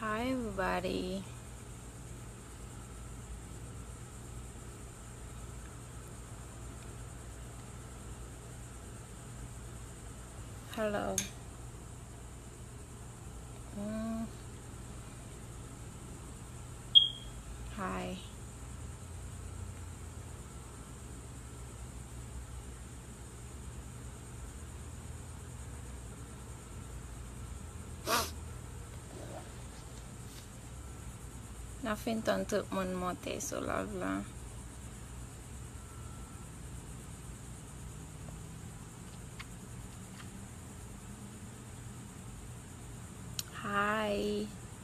Hi everybody Hello Hi Nan fin tan tout moun monte sou lòv la. Hi.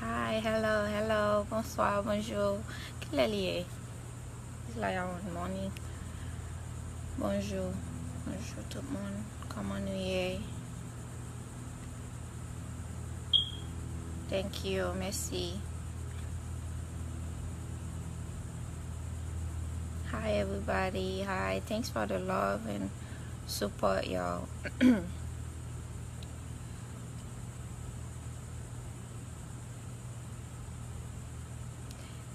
Hi, hello, hello, bonswa, bonjou Kilè li ye? It's like around morning Bonjou, bonjou tout moun Koman nou ye? Thank you, mèsi Hi everybody, hi, thanks for the love and support y'all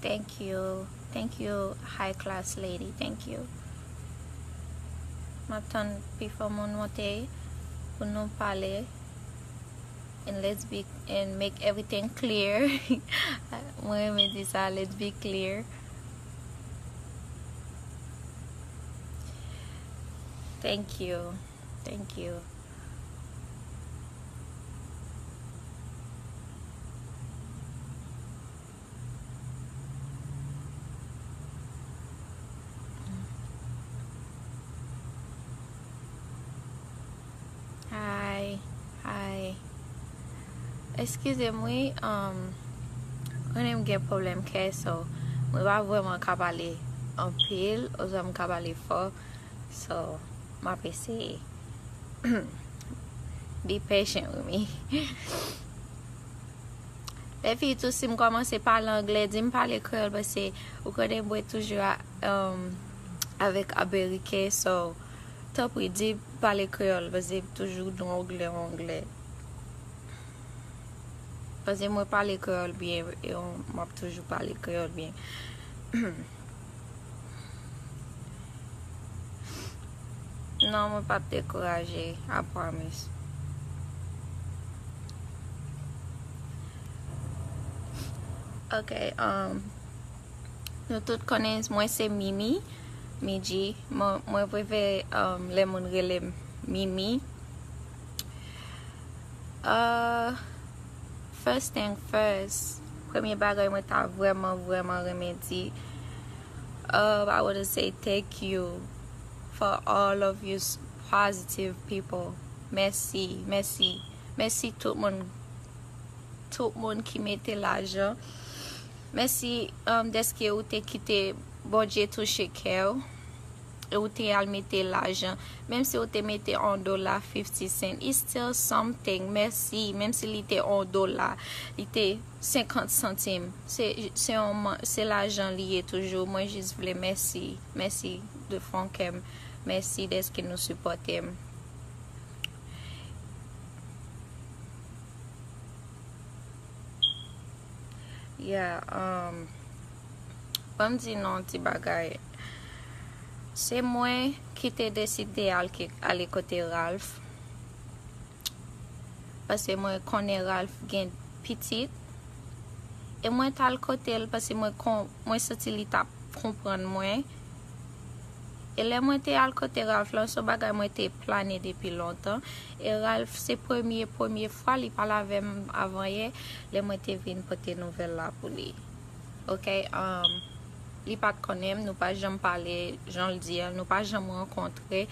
Thank you. Thank you high class lady. Thank you. Map tann pi fò moun monte pou nou pale. And let's be and make everything clear. Mwen reme di sa, let's be clear. Thank you. Thank you. Hi. Hi. Eskize m wi. Um, konnen m gen problem kè so. Mwen pa vreman ka pale anpil, ozwa m ka pale fò. So map eseye. Be patient with me. Lè fi tou si m kòmanse pale anglè, di m pale kreyòl pase ou konnen mwen toujou um, avèk ameriken so tanpri di m pale kreyòl pase m toujou nou anglè ou anglè. Pase mwen pale kreyòl byen e map toujou pale kreyòl byen. Non mwen pap dekouraje, I promise. Ok, um, nou tout konnen mwen se Mimi, Miji, mwen preve um, le moun rele Mimi. Uh, First thing first, premye bagay mwen ta vrèman vrèman renmen di uh I wanna say thank you for all of you positive people mèsi mèsi mèsi tout moun tout moun ki mete lajan mèsi dèske ou te kite Bondye touche kèw. e ou te al mete lajan menm si ou te mete on dola fifti sent it's still something mèsi menm si li te on dola li te senkant santim se se yon se lajan li ye toujou mwen jis vle mèsi mèsi de fon kèm mèsi dèske nou sipòtem. Yeah um. Banm di nou yon ti bagay. Se mwen ki te deside al ki ale kote Ralph. Pase mwen konnen Ralph gen pitit. E mwen t al kote l pase mwen kon mwen santi li tap konprann mwen. E lè mwen te al kote Ralph lan son bagay mwen te plane depi lontan. E Ralph se premye premye fwa li pale avèm avan yè lè mwen te vin pote nouvèl la pou li. Ok um li pat konnenm nou pa janm pale janl di an nou pa janm rankontre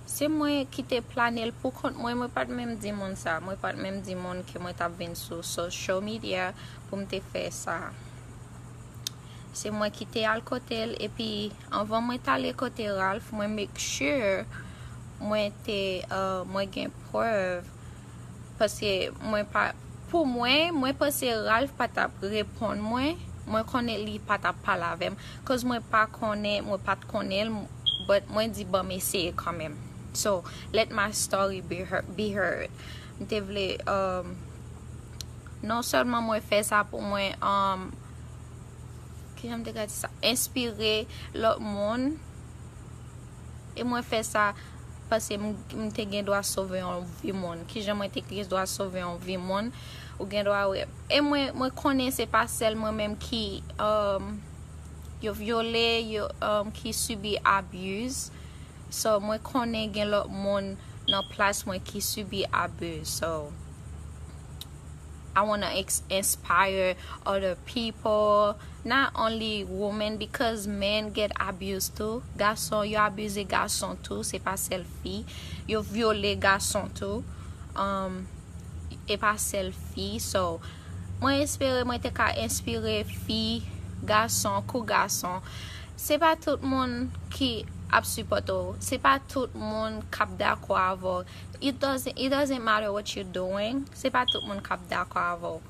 se mwen ki te planel pou kont mwen mwen pat menm di moun sa mwen pat menm di moun ke mwen tap vin sou social media poum te fè sa se mwen ki te al kotel epi anvan mwen tale kote Ralph mwen make sure mwen te uh mwen gen prèv Paske mwen pa Pou mwen, mwen panse Ralph pa tap reponn mwen, mwen konnen li pa tap pale avèm cause mwen pa konnen, mwen pat konnenl but mwen di banm eseye kanmenm so let my story be heard m te vle um non sèlman mwen fè sa pou mwen um kijan m te ka di sa enspire lòt moun. E mwen fè sa paske m te gen dwa sove yon vi moun. Kijan mwen te gen dwa sove yon vi moun? Ou gen dwa wè. E mwen konnen se pa sèl mwen menm ki yo vyole, ki sibi abuse. So mwen konnen gen lòt moun nan plas mwen ki sibi abuse. So. I wanna inspire other people not only women because men get abused too gason yo abuze gason tou se pa sèl fi yo vyole gason tou um e pa sèl fi so mwen espere mwen te ka inspire fi gason kou gason se pa tout moun ki ap supporte w se pa tout moun kap dakò avè w It doesn't it doesn't matter what you're doing se pa tout moun kap dakò avèw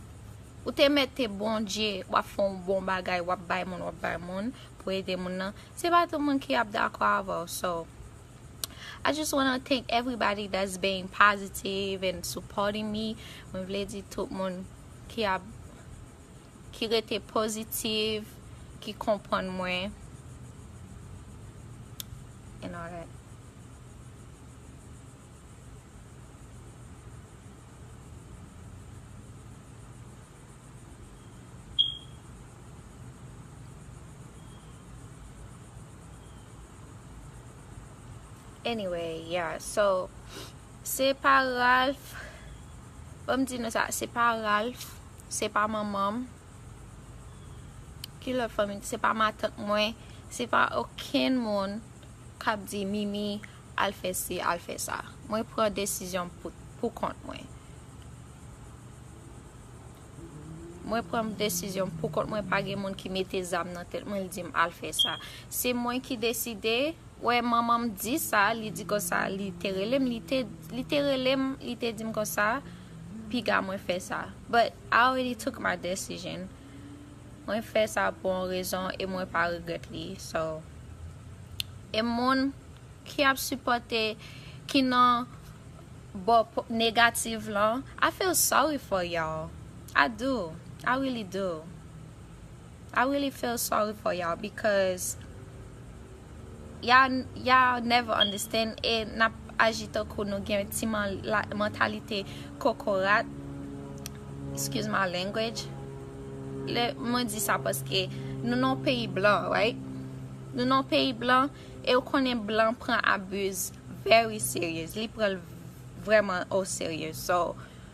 ou te mèt te Bondye wap fè yon bon bagay wap bay moun wap bay moun pou ede moun nan se pa tout moun ki ap dakò avèw so I just wanna thank everybody that's being positive and supporting me mwen vle di tout moun ki ap ki rete positive ki konprann mwen and all that. Anyway, yeah, so, se pa Ralph, pa m di nou sa, se pa Ralph, se pa manman m, ki lòt fanmi, se pa matant mwen, se pa okenn moun. kap di mimi al fè si al fè sa mwen pran desizyon pou kont mwen mwen pran desizyon pou kont mwen pa gen moun ki mete zam nan tèt mwen li dim al fè sa se mwen ki deside wè manmanm di sa li di konsa li te relem li te li te relem li te dim konsa piga mwen fè sa but I already took my decision. Mwen fè sa pou yon rezon e mwen pa regrèt li so e moun ki ap sipòte ki nan bò negative lan I feel sorry for y'all I do I really do I really feel sorry for y'all because Ya never understand e nap aji tankou nou gen ti mantalite kokorat excuse my language le mwen di sa paske nou nan peyi blan right nou nan peyi blan e ou konnen blan pran abuse very serious li pranl vreman o serye so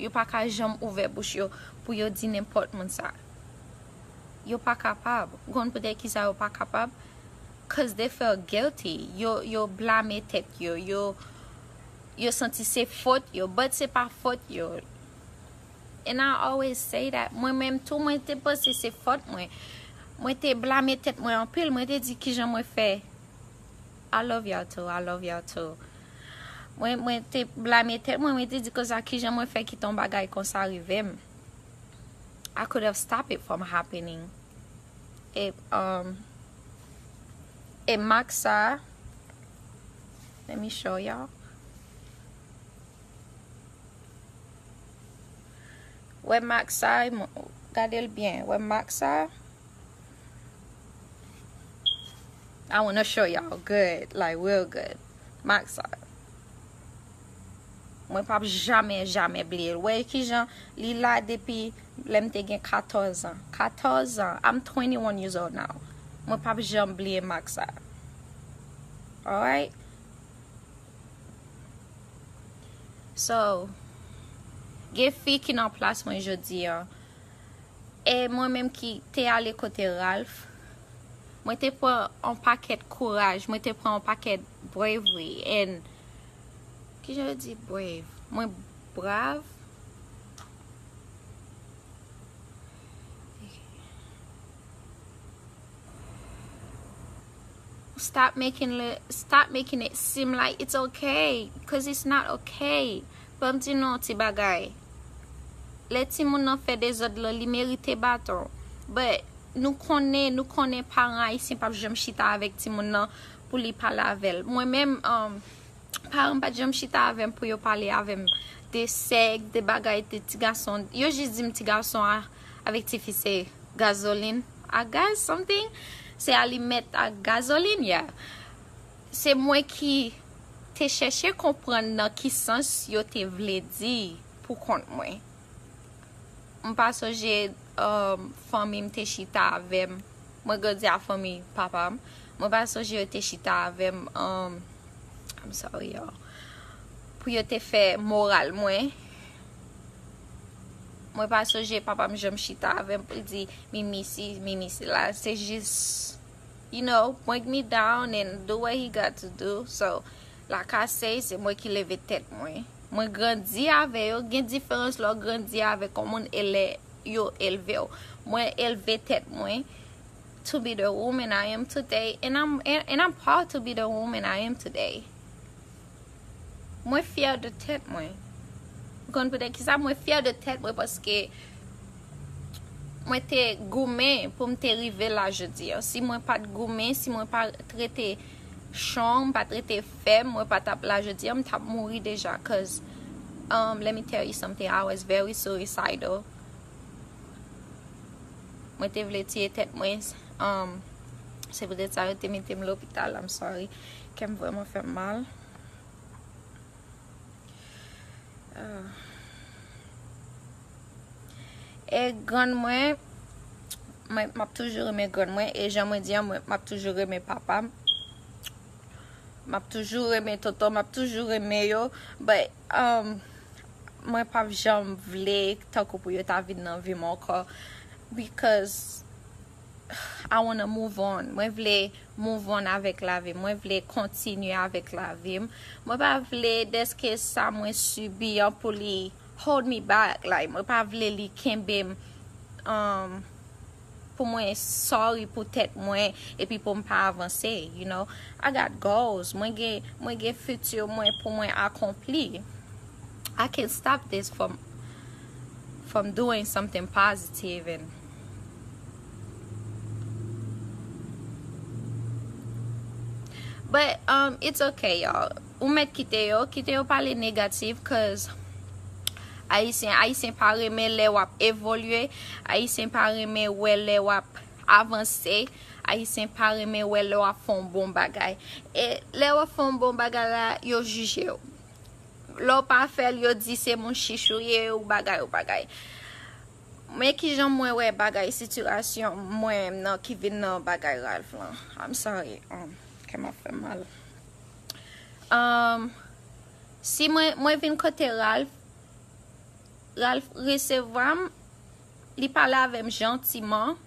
Yo pa ka janm ouvè bouch yo pou yo di nenpòt moun sa. Yo pa kapab. Ou konn poutèt ki sa yo pa kapab? Cause they feel guilty. Yo, yo blame tèt yo. Yo, yo santi se fot yo, but se pa fot yo. And I always say that. Mwen menm tou, mwen te panse se fot mwen. Mwen te blame tèt mwen anpil. Mwen te di kijan mwen fè. I love y'all too, I love y'all too Mwen mwen te blame tèt mwen, mwen te di konsa kijan mwen fè kite yon bagay konsa rive'm I could have stopped it from happening E um E mak sa Let me show y'all Wè mak sa, gade'l byen, wè mak sa? I wanna show y'all good, like real good. Max art. Mwen pap jamè jamè bliye. Wè ki jan li la depi lèm te gen 14 an. 14 an. I'm 21 years old now. Mwen pap janm bliye Max art. Alright. So, gen fi ki nan plas mwen jodi an. E mwen menm ki te ale kote Ralph, mwen te pran yon pakèt kouraj, mwen te pran yon pakèt bravery and, ki jan yo di brave? Mwen brave? Stop making it seem like it's okay, cause it's not okay. Fè m di nou yon ti bagay. Lè timoun nan fè dezòd lan li merite baton. But nou konnen nou konnen paran ayisyen pap janm chita avèk timoun nan pou li pale avè l. Mwen menm paran m pat janm chita avè m pou yo pale avè m de sèk, de bagay de ti gason. Yo jis di m ti gason avèk ti fi se gazolin ak gaz something. Se alimèt ak gazolin yeah. Se mwen ki te chèche konprann nan ki sans yo te vle di pou kont mwen. M pa sonje fanmi m te chita avè m. Mwen grandi ak fanmi papa m. Mwen pa sonje yo te chita avè m, I'm sorry y'all, pou yo te fè moral mwen. Mwen pa sonje papa m janm chita avè m pou l di, Mimi si, Mimi sila. Se jis. you know bring me down and do what he got to do so la kasey se mwen ki leve tèt mwen mwen grandi avè yo gen diferans lè w grandi avèk yon moun e lè yo elve w mwen elve tèt mwen to be the woman I am today and I'm proud to be the woman I am today. Mwen fyè de tèt mwen. Ou konn poutèt ki sa? Mwen fyè de tèt mwen paske mwen te goumen pou m te rive la jodi an. Si mwen pat goumen, si mwen pa t rete chon, m pa t rete fèm, mwen pa t ap la jodi an, m t ap mouri deja koz let me tell you something, I was very suicidal. Mwen te vle tiye tèt mwen. Se poutèt sa yo te mete m lopital, I'm sorry. Kèm vrèman fèm mal. E grann mwen. Mwen map toujou renmen grann mwen. E jan mwen di an mwen map toujou renmen papa m. Map toujou renmen tonton. Map toujou renmen yo. But um mwen pap janm vle tankou pou yo ta vin nan vi m ankò. Because. I wanna move on, mwen vle move on avèk lavim, mwen vle kontinye avèk lavim, mwen pa vle deske sa mwen sibi an pou li hold me back, like mwen pa vle li kenbem um, pou mwen sorry pou tèt mwen epi pou m pa avanse, you know, I got goals, mwen gen, mwen gen futur mwen pou mwen akonpli, I can't stop this from, from doing something positive and. But um, it's okay y'all. Ou met kite yo, kite yo pale negatif cuz Ayisyen, Ayisyen pa renmen lè wap evolye, Ayisyen pa renmen wè lè wap avanse, Ayisyen pa renmen wè lè wap fon bon bagay. E lè wap fon bon bagay la, yo jije ou. Lè w pa fèl yo di se moun chich ou ye ou bagay ou bagay. Men kijan mwen wè bagay sitirasyon mwen nan ki vin nan bagay Ralph lan I'm sorry kèm ap fèm mal Si mwen vin kote Ralph Ralph resevwa m Li pale avèm jantiman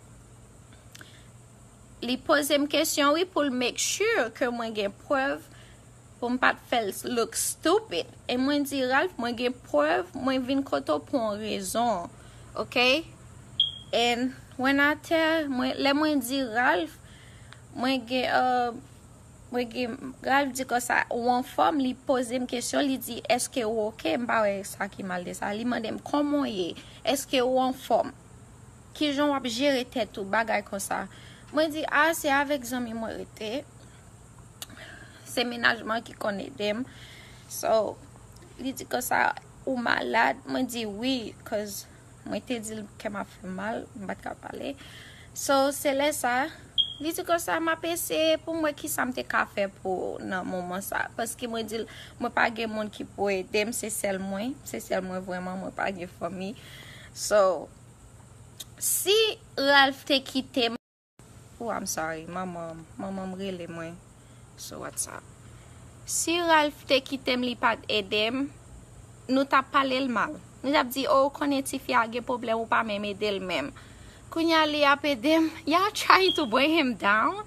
Li pozem kesyon wi poul make sure ke mwen gen prèv Pou m pat fèl look stupid. E mwen di Ralph mwen gen prèv mwen vin kote w pou on rezon ok and when I tell mwen lè mwen di Ralph mwen gen uh mwen gen Ralph di konsa ou anfòm li poze m kesyon li di eske ou ok m pa wè sa ki mal de sa li mande m kòman w ye eske ou anfòm kijan w ap jere tèt ou bagay konsa mwen di ah se avèk zanmi mwen rete. Se menajman ki konn edem. So, li di konsa, ou malad? Mwen di wi, cause mwen te di l kèm ap fè m mal, m pa t ka pale. So, se lè sa, li di konsa, m ap eseye pou m wè ki sa m te ka fè pou ou nan moman sa. Paske mwen di l, mwen pa gen moun ki pou ede m, se sèl mwen. Se sèl mwen vrèman, mwen pa gen fanmi. So, si Ralph te kite m. Ooh I'm sorry manmanm manmanm rele mwen sou whatsapp. Si Ralph te kitem li pat edem nou tap palel mal nou tap di oh ou konnen tifi a gen pwoblèm ou pa menm edel menm kounya li ap edem y'all trying to bring him down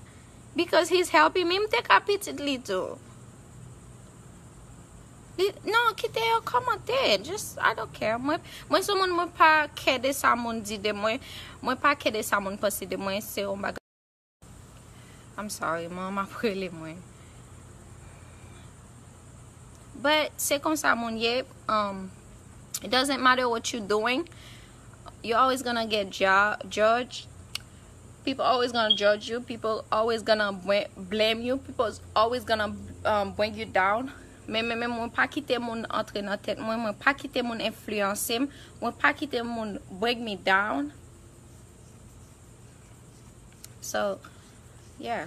because he's helping me m te ka pitit li tou. Non kite yo kòmante just I don't care mwen mwen sou moun mwen pa kè de sa moun di de mwen mwen pa kè de sa moun panse de mwen se yon bagay I'm sorry manman m ap rele mwen but se konsa moun ye um it doesn't matter what you doing You're always gonna get judge People always gonna judge you People always gonna blame you People always gonna um, bring you down Men men men mwen pa kite moun antre nan tèt mwen Mwen pa kite moun enfliyanse m Mwen pa kite moun bring me down So, yeah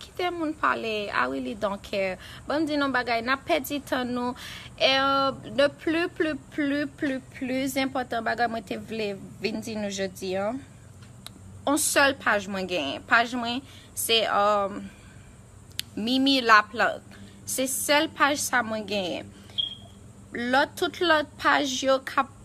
Kite moun pale I really don't care banm di nou bagay nap pèdi tan nou erm de plu plu plu plu plu zenpòtan bagay mwen te vle vin di nou jodi an on sèl paj mwen genyen paj mwen se erm mimi la plant se sèl paj sa mwen genyen lòt tout lòt paj yo kap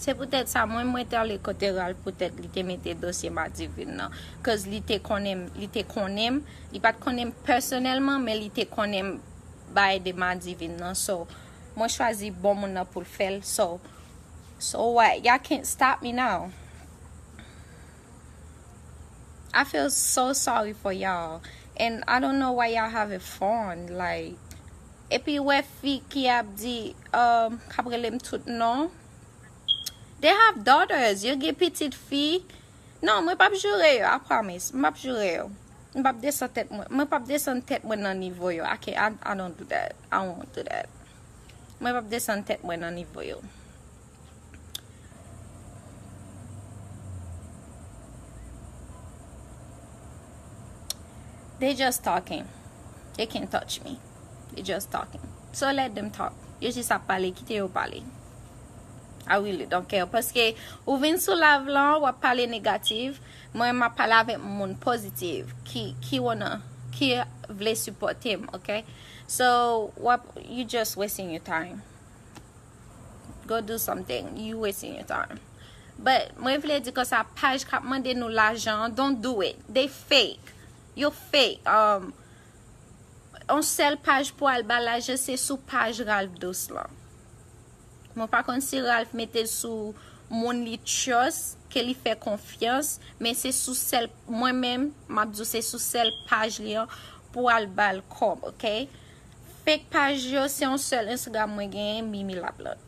Se poutèt sa mwen mwen te ale kote Ralph poutèt li te mete dosye Madivine nan. Cause li te konnen m, li te konnen m, li pat konnen m pèsonèlman men li te konnen m bay de Madivine nan. So, mwen chwazi bon moun nan pou l fè l. So, so what? Y'all can't stop me now. I feel so sorry for y'all and I don't know why y'all have a fun like epi wè fi ki ap di um kap rele m tout non they have daughters yo gen pitit fi non mwen pap joure yo I promise m pap joure yo m pap desan tèt mwen mwen pap desann tèt mwen nan nivo yo I can't I don't do that I won't do that mwen pap desann tèt mwen nan nivo yo. They just talking. They can't touch me. They just talking. So let them talk. Yo jis ap pale, kite yo pale. I really don't care. Paske ou vin sou live lan, wap pale negatif, mwen map pale avèk moun pozitif, ki, ki wanna, ki vle supporte m, ok? So, wap, you just wasting your time. Go do something, you wasting your time But mwen vle di konsa paj kap mande nou lajan an don't do it They fake Yo fake um, On sèl paj pou al ba lajan se sou paj Ralph Douce lan Mwen pa konn si Ralph mete l sou moun li trust, ke li fè konfyans Men se sou sèl, mwen menm map di w se sou sèl paj li an pou al bal kòb ok. Fake page yo se yon sel instagram mwen genyen mimi la plante.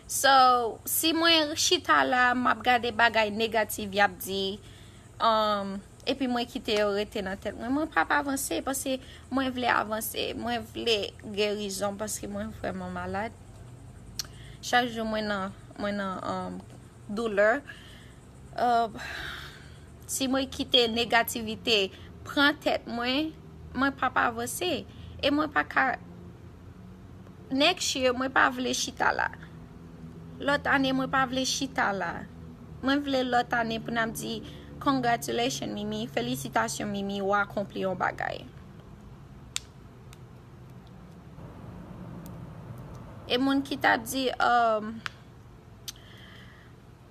So si mwen chita la map gade bagay negatif yap di um, epi mwen kite yo rete nan tet mwen mwen pap avanse paske mwen vle avanse mwen vle gerizon paske mwen vreman malad chak jou mwen nan mwen nan um, douleur. Si mwen kite negativite pran tèt mwen, mwen p ap avanse. E mwen pa ka, next year mwen pa vle chita la. Lòt ane mwen pa vle chita la. Mwen vle lòt ane pou n ap di, congratulations Mimi, felisitasyon Mimi ou akonpli yon bagay. E moun ki t ap di,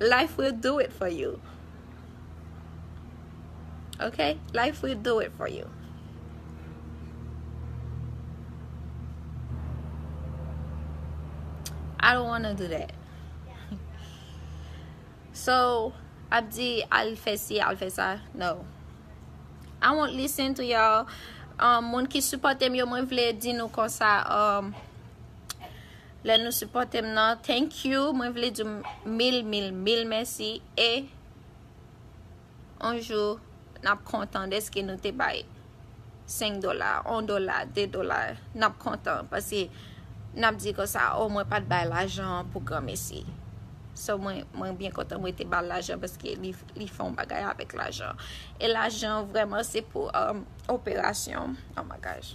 Life will do it for you Ok, life will do it for you I don't wanna do that So, ap di al fè si, al fè sa No I won't listen to y'all um, Moun ki supòte m yo mwen vle di nou konsa um, Lè nou sipòtem nan thank you mwen vle diw mil mil mil mèsi e on jou nap kontan deske nou te bay 5 dola 1 dola 2 dola nap kontan pase nap di konsa oh mwen pat bay lajan pou granmesi so mwen byen kontan mwen te bal lajan paske li fè yon bagay avèk lajan e lajan vreman se pou operasyon oh my gosh.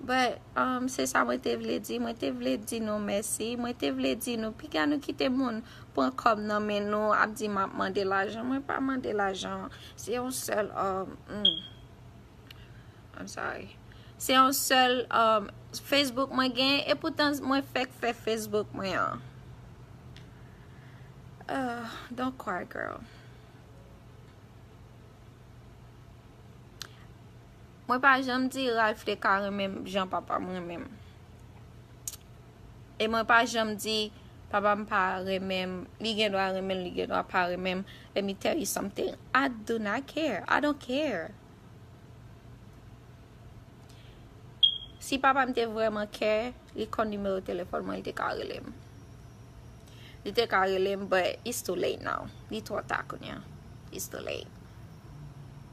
But, um, se sa mwen te vle di, mwen te vle di nou mèsi, mwen te vle di nou piga nou kite moun pran kòb nan men nou ap di map mande lajan, mwen pa mande lajan, se yon sèl, um, um, I'm sorry, se yon sèl, um, Facebook mwen gen, e poutan mwen fèk fè Facebook mwen an. Uh, don't cry girl. Mwen pa janm di Ralph te ka renmen m jan papa m renmen m. E mwen pa janm di papa m pa renmen m, li gen dwa renmen l, li gen dwa pa renmen m, let me tell you something, I do not care, I don't care. Si papa m te vreman care, li konn nimewo telefòn mwen, li te ka rele m. Li te ka rele m, but it's too late now. Li twò ta kounye a. It's too late.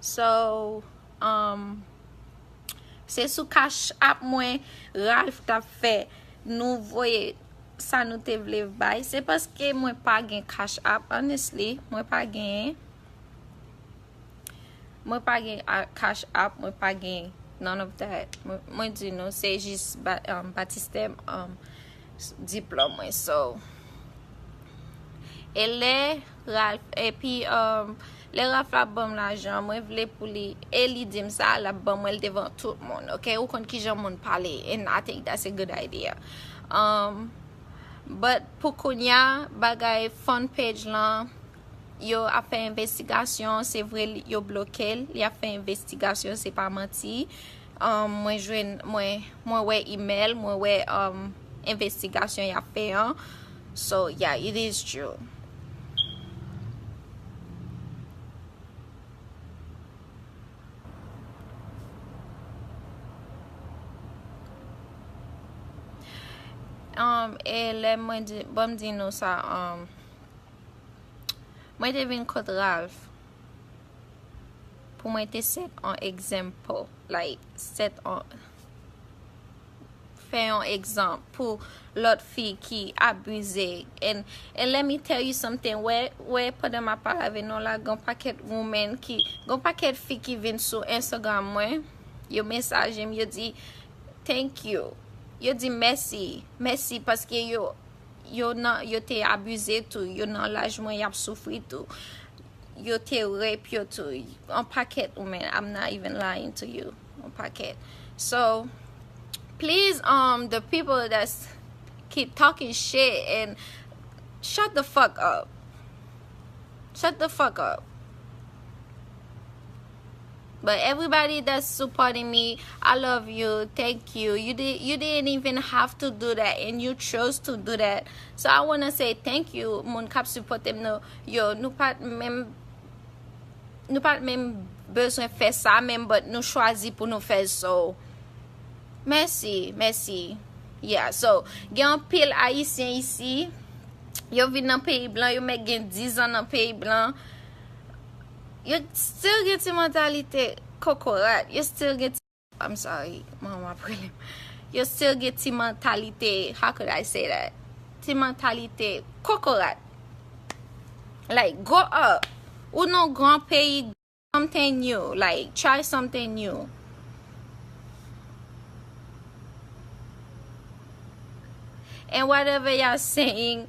So um se sou cash app mwen Ralph tap fè nou voye sa nou te vle bay se paske mwen pa gen cash app honestly mwen pa genyen. Mwen pa gen cash app, mwen pa gen none of that. Mwen di nou se jis um, batistè um, diplòm mwen so. E lè Ralph, epi um, lè Ralph la banm lajan, mwen vle pou li, e li dim sa, la banm mwen devan tout moun, ok? Ou konn ki jan moun pale, and I think that's a good idea. Um, but pou kounya, bagay fan page lan, Yo ap fè envestigasyon se vre yo blokel li ap fè envestigasyon se pa manti mwen jwenn mwen wè email mwen wè envestigasyon yap fè an so yeah it is true. E lè mwen di banm di nou sa. Mwen te vin kot Ralph pou mwen te set an example, like set an fè yon egzanp pou lòt fi ki abize and and let me tell you something wè wè pandan map pale avè nou la gon pakèt women ki gon pakèt fi ki vin sou Instagram mwen yo mesaje m yo di thank you yo di mèsi mèsi paske yo yo nan yo te abuze tou yo nan laj mwen yap soufri tou yo te rape yo tou an paket ou men I'm not even lying to you an paket so please um the people that keep talking shit and shut the fuck up shut the fuck up But everybody that's supporting me, I love you, thank you, you didn't even have to do that and you chose to do that, so I wanna say thank you moun kap supotem nou yo, nou pat menm nou pat menm bezwen fè sa menm but nou chwazi pou nou fèl so mèsi, mèsi yeah, so gen anpil ayisyen isi yo vin nan peyi blan yo mèt gen 10 ans nan peyi blan. Yo still gen ti mantalite kokorat, yo still gen ti, I'm sorry, mwen wè ap relem, yo still gen ti mantalite, how could I say that, ti mantalite kokorat. Like, grow up! Ou nan gran peyi, do something new, like, try something new. And whatever y'all saying,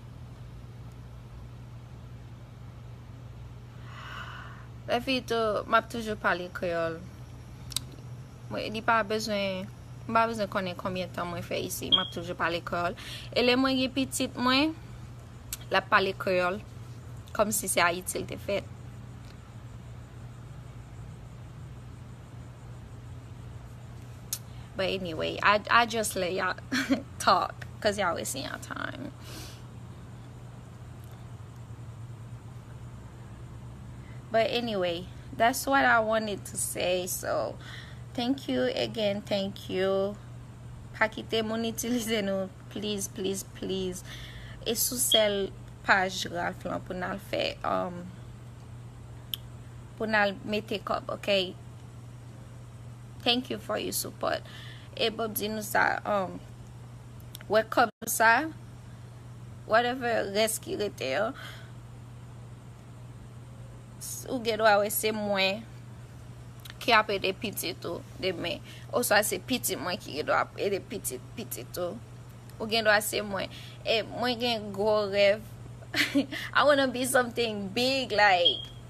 Epi tou, m ap toujou pale kreyòl. Mwen li pa bezwen, m pa bezwen konnen konbyen tan mwen fè isi, m ap toujou pale kreyòl. E lè mwen gen pitit mwen, l ap pale kreyòl, kòm si se Ayiti l te fèt. But anyway, I, I just let y'all talk, cause y'all wasting y'all time. But anyway, that's what I wanted to say, so thank you again, thank you. Pa kite moun itilize nou, please, please, please. E sou sel paj Ralph lan pou nan fè, um, Pou nal mete kob ok. Thank you for you support e bom di nou sa um wè kob sa whatever res ki rete yo ou gen dwa wè se mwen ki ap ede pitit ou demen oswa se pitit mwen ki gen dwa ap ede pitit pitit ou ou gen dwa se mwen e mwen gen gwo rèv I wanna be something big like.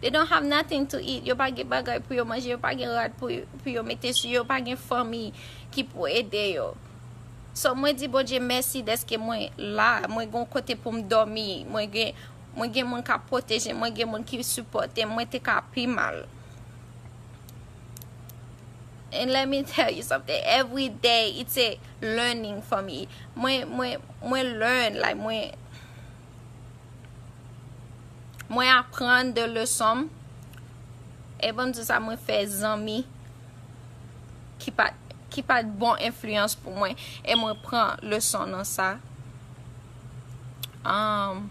They don't have nothing to eat, yo pa gen bagay pou yo manje, yo pa gen rad pou yo mete sou yo, yo pa gen fanmi ki pou ede yo. So mwen di Bondye mèsi dèske mwen la, mwen gen yon kote pou m dòmi, mwen gen moun k ap pwoteje m, mwen gen moun ki sipòte m, mwen te ka pi mal. And let me tell you something, every day it's a learning for me, mwen learn, like mwen. Mwen aprann de leson m. E bon di sa mwen fè zanmi ki pat ki pat bon enfliyans pou mwen e mwen pran leson nan sa. Um,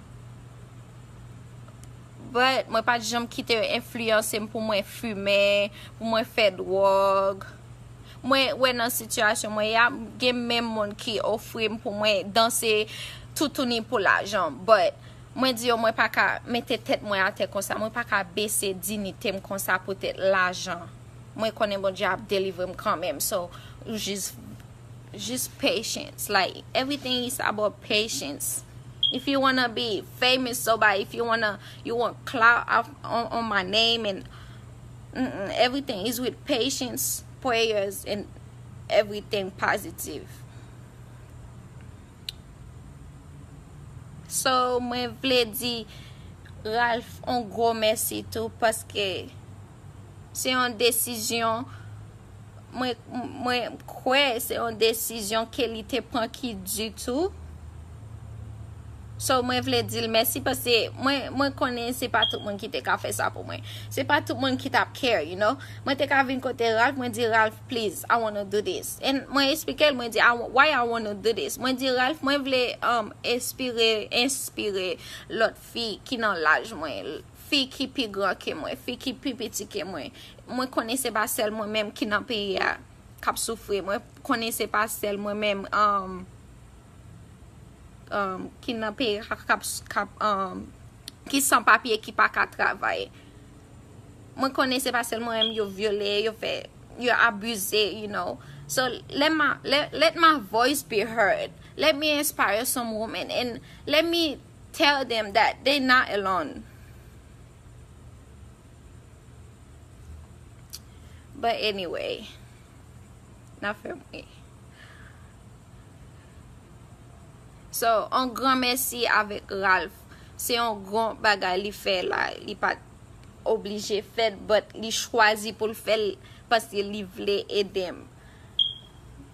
but mwen pat janm kite yo enfliyanse m pou mwen fime, pou mwen fè dwòg. mwen wè nan sitiyasyon mwen ya gen menm moun ki ofri m pou mwen danse toutouni pou lajan but mwen di yo mwen pa ka mete tèt mwen atè konsa mwen pa ka bese dinite m konsa poutèt lajan mwen konnen Bondye ap delivre m kanmenm so jis jis patience like everything is about patience if you wanna be famous so bad if you wanna you want clout on my name and Everything is with patience, prayers and everything positive. So mwen vle di Ralph on gro mèsi tou paske se yon desizyon. mwen mwen kwè se yon desizyon Kelly te pran ki di tou so mwen vle dil mèsi pase mwen mwen konnen se pa tout moun ki te ka fè sa pou mwen se pa tout moun ki tap care you know mwen te ka vin kote Ralph mwen di Ralph please I wanna do this and mwen esplikel mwen di why I wanna do this mwen di Ralph mwen vle um espire enspire lòt fi ki nan laj mwen Fi ki pi gran ke mwen, fi ki pi piti ke mwen. Mwen konnen se pa sèl mwen menm ki nan peyi a k ap soufri. Mwen konnen se pa sèl mwen menm ki nan peyi a ki san papye, ki pa ka travay. Mwen konnen se pa sèl mwen menm yo vyole, yo fè, yo abize, you know. So, let my voice be heard. Let me inspire some women and let me... Tell them that they not alone But anyway Nan fèm ri So on gran mèsi avèk Ralph Se yon gran bagay li fè la Li pat oblije fèl But li chwazi poul fèl Paske li vle edem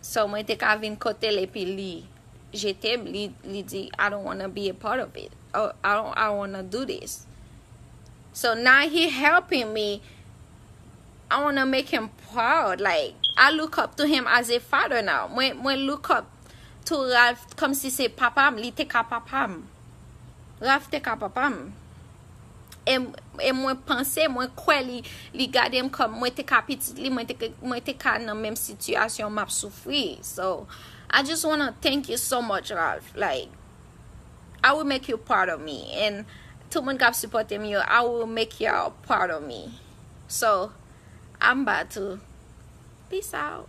So mwen te ka vin kote l epi li jete m, li di I don't wanna be a part of it, I don't wanna do this. So now he helping me, I wanna make him proud, like I look up to him as a father now. Mwen look up to Ralph kom si se papa m, li te ka papa m. Ralph te ka papa m. e mwen panse, mwen kwè li gade m kòm mwen te ka pitit li, mwen te ka nan menm sitiyasyon map soufri. So, I just wanna thank you so much Ralph, like, I will make you proud of me, and tout moun kap sipòte m yo, I will make y'all proud of me. So, Amba tou. Peace out.